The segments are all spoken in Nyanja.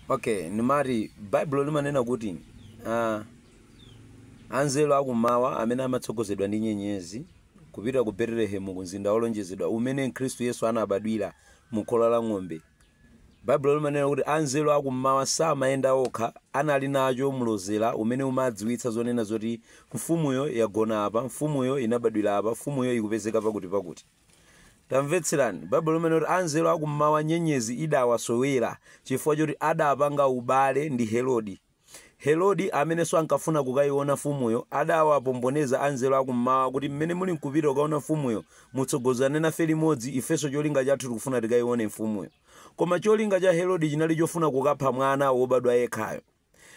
Okay, nimati Baibulo limanena kuti ah, anzeru akummawa amene amatsogozedwa ndi nyenyezi kupita ku Betelehemu ku mzinda wolonjezedwa umene Khristu Yesu anabadwira mu khola la ng'ombe. Baibulo limanena kuti anzeru akummawa samayenda okha, anali nacho mlozera umene umadziwitsa zonena zoti mfumuyo yagona apa, mfumuyo inabadwira apa, mfumuyo ikupezeka pakuti pakuti. Tamvetserani, Baibulo limanena kuti anzeru akummawa nyenyezi idawasowera chifukwa choti adapanga ubale ndi Herodi. Herodi, amenenso ankafuna kukaiona mfumuyo, adawapomboneza anzeru akummawa kuti mmene muli nkupita kukaona mfumuyo, mutsogozane nafe limodzi, ifenso cholinga chathu tikufuna tikaione mfumuyo. Koma cholinga cha Herodi chinali chofuna kukapha mwana wobadwa yekhayo.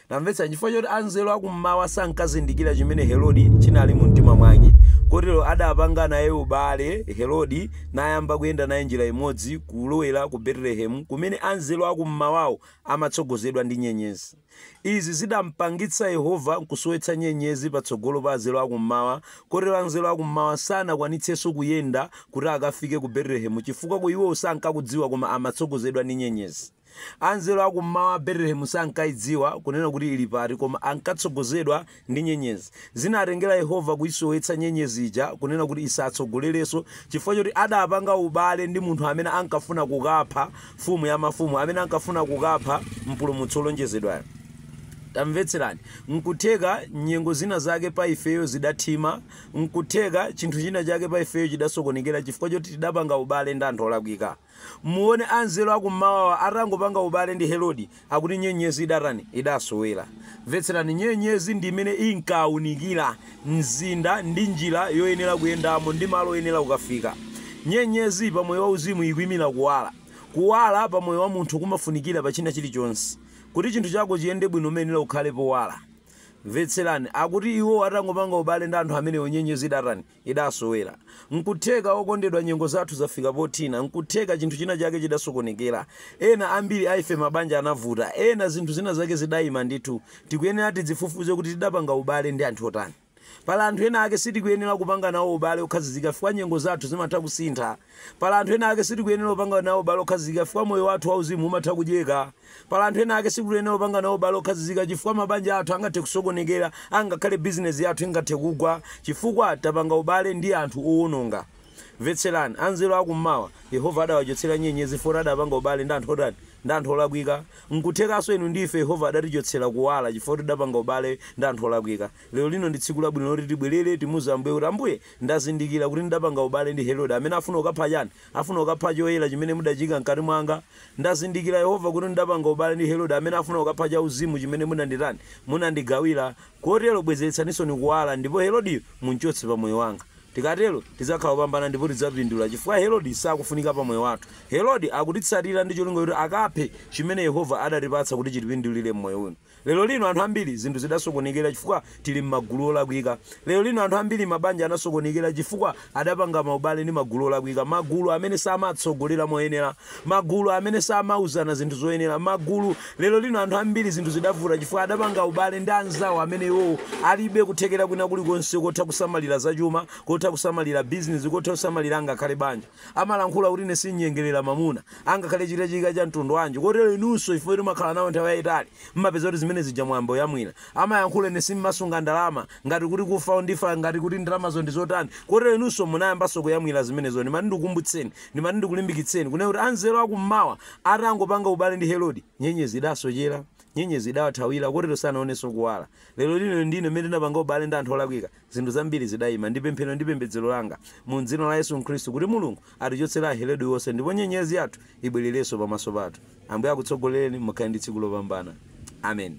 Tamvetsa, chifukwa choti anzeru a kum'mawa sankazindikira chimene Herodi chinali mu mtima mwake, kotero adapanga naye ubale Herodi, nayamba kuyenda naye njira imodzi kulowera ku Betelehemu, kumene anzeru a kum'mawawo amatsogozedwa ndi nyenyezi. Izi zidampangitsa Yehova nkusowetsa nyenyezi patsogolo pa anzeru a kum'mawa, kotero anzeru a kum'mawa sanakwanitsenso kuyenda kuti akafike ku Betelehemu, chifukwa ku iwowo sankakudziwa koma amatsogozedwa ndi nyenyezi. Anzeru a kum'mawa Betelehemu sankaidziwa kunena kuti ili pati koma ankatsogozedwa ndi nyenyezi. Zinatengera Yehova kuisowetsa nyenyezi ija kunena kuti isatsogolerenso chifukwa choti adapanga ubale ndi munthu amene ankafuna kukapha Mfumu ya mafumu, amene ankafuna kukapha Mpulumutsi wolonjezedwayo. Tamvetserani, N'kutheka nyengo zina zake pa ifeyo zidathima, n'kutheka chinthu china chake pa ifeyo chidasokonekera chifukwa choti tidapanga ubale ndi anthu olakwika. Muone anzeru a kum'mawawa atangopanga ubale ndi Herodi, akuti nyenyezi idatani? Idasowera. Mvetserani, nyenyezi ndi imene inkaunikira mzinda ndi njira yoyenera kuyendamo ndi malo oyenera kukafika. Nyenyezi pa moyo wauzimu ikuimira kuwala. Kuwala pa moyo wa munthu kumafunikira pa china chilichonse. Kuti chinthu chako chiyende bwino umayenera ukhale powala. Mvetserani, akuti iwo atangopanga ubale ndi anthu amenewo nyenyezi idatani? idasowera. Nkutheka, okondedwa, nyengo zathu zafika pothina. Nkutheka chinthu china chake chidasokonekera. Ena ambiri a ife mabanja anavuta. Ena zinthu zina zake zidaima ndithu. Tikuyenera tidzifufuze kuti tidapanga ubale ndi anthu otani. Pali anthu ena ake sitikuyenera kupanga nawo ubale okhazikika chifukwa nyengo zathu zimatha kusintha. Pali anthu ena ake sitikuyenera kupanga nawo ubale okhazikika chifukwa moyo wathu wauzimu umatha kudyeka. Pali anthu ena ake sitikuyenera kupanga nawo ubale okhazikika chifukwa mabanja athu angathe kusokonekera angakhale business yathu ingathe kugwa chifukwa tapanga ubale ndi anthu owononga. Mvetserani, anzeru a kum'mawa, Yehova adawachotsera nyenyezi foti adapanga ubale ndi anthu otani? Ndi anthu olakwika. Nkuthekanso inu ndi ife Yehova adatichotsera kuwala chifukwa kuti tidapanga ubale ndi anthu olakwika. Lero lino ndi tsiku labwino loti tibwerere timuuze Ambuye kuti Ambuye ndazindikira kuti ndidapanga ubale ndi Herodi amene afuna kukapha chani? Afuna kukapha choyera chimene mudachiika m'kati mwanga. Ndazindikira, Yehova, kuti ndidapanga ubale ndi Herodi, amene afuna kukapha chauzimu chimene munanditani, munandigawira. Kotero, bwezeretsaninsoni kuwala, ndipo Herodi mumchotse pa moyo wanga. Tikatero, tidzakhala opambana ndipo tidzapindula, chifukwa Herodi sakufunika pa moyo wathu. Herodi akutitsatira ndi cholinga choti akaphe chimene Yehova adatipatsa kuti chitipindulire m'moyo uno. Lero lino anthu ambiri zinthu zidasokonekera chifukwa tili mmagulu olakwika. Lero lino anthu ambiri mabanja anasokonekera chifukwa adapanga maubale ndi magulu olakwika. Magulu amene samatsogolera moyenera. Magulu amene samauzana zinthu zoyenera. Magulu Lero lino anthu ambiri zinthu zidavuta chifukwa adapanga ubale ndi anzawo amene iwowo alibe kuthekera kwina kulikonse kotha kusamalira zachuma, kotha kusamalira bizinezi, kotha kusamalira angakhale banja. amalankhula kuti ine sinyengerera mamuna angakhale chitachitika cha mtundu wanji kotero inunso chifukwa choti mwakhala nawo nthawi yayitali mmapeza kuti zimene zija mwayamba kuyamwira. Amayankhula ine simmasunga ndalama ngati kuti kufa ndifa ngati kuti ndalamazo ndi zotani kotero inunso munayambanso kuyamwira zimenezo ndimati ndikukumbutseni ndimati ndikulimbikitseni kunena kuti anzeru aku mmawa atangopanga ubale ndi Herodi nyenyezi idasochera nyenyezi idawathawira kotero sanaonenso kuwala. Lero lino inu ndi ine mmene tinapanga ubale ndi anthu olakwika. Zinthu zambiri zidaima ndi pemphero ndi pembedzero langa mu m'dzina la Yesu Khristu kuti Mulungu atichotsere a Herodi onse ndipo nyenyezi yathu ibwererenso pamaso pathu. Ambuye akutsogolereni, mukhale ndi tsiku lopambana. Ameni.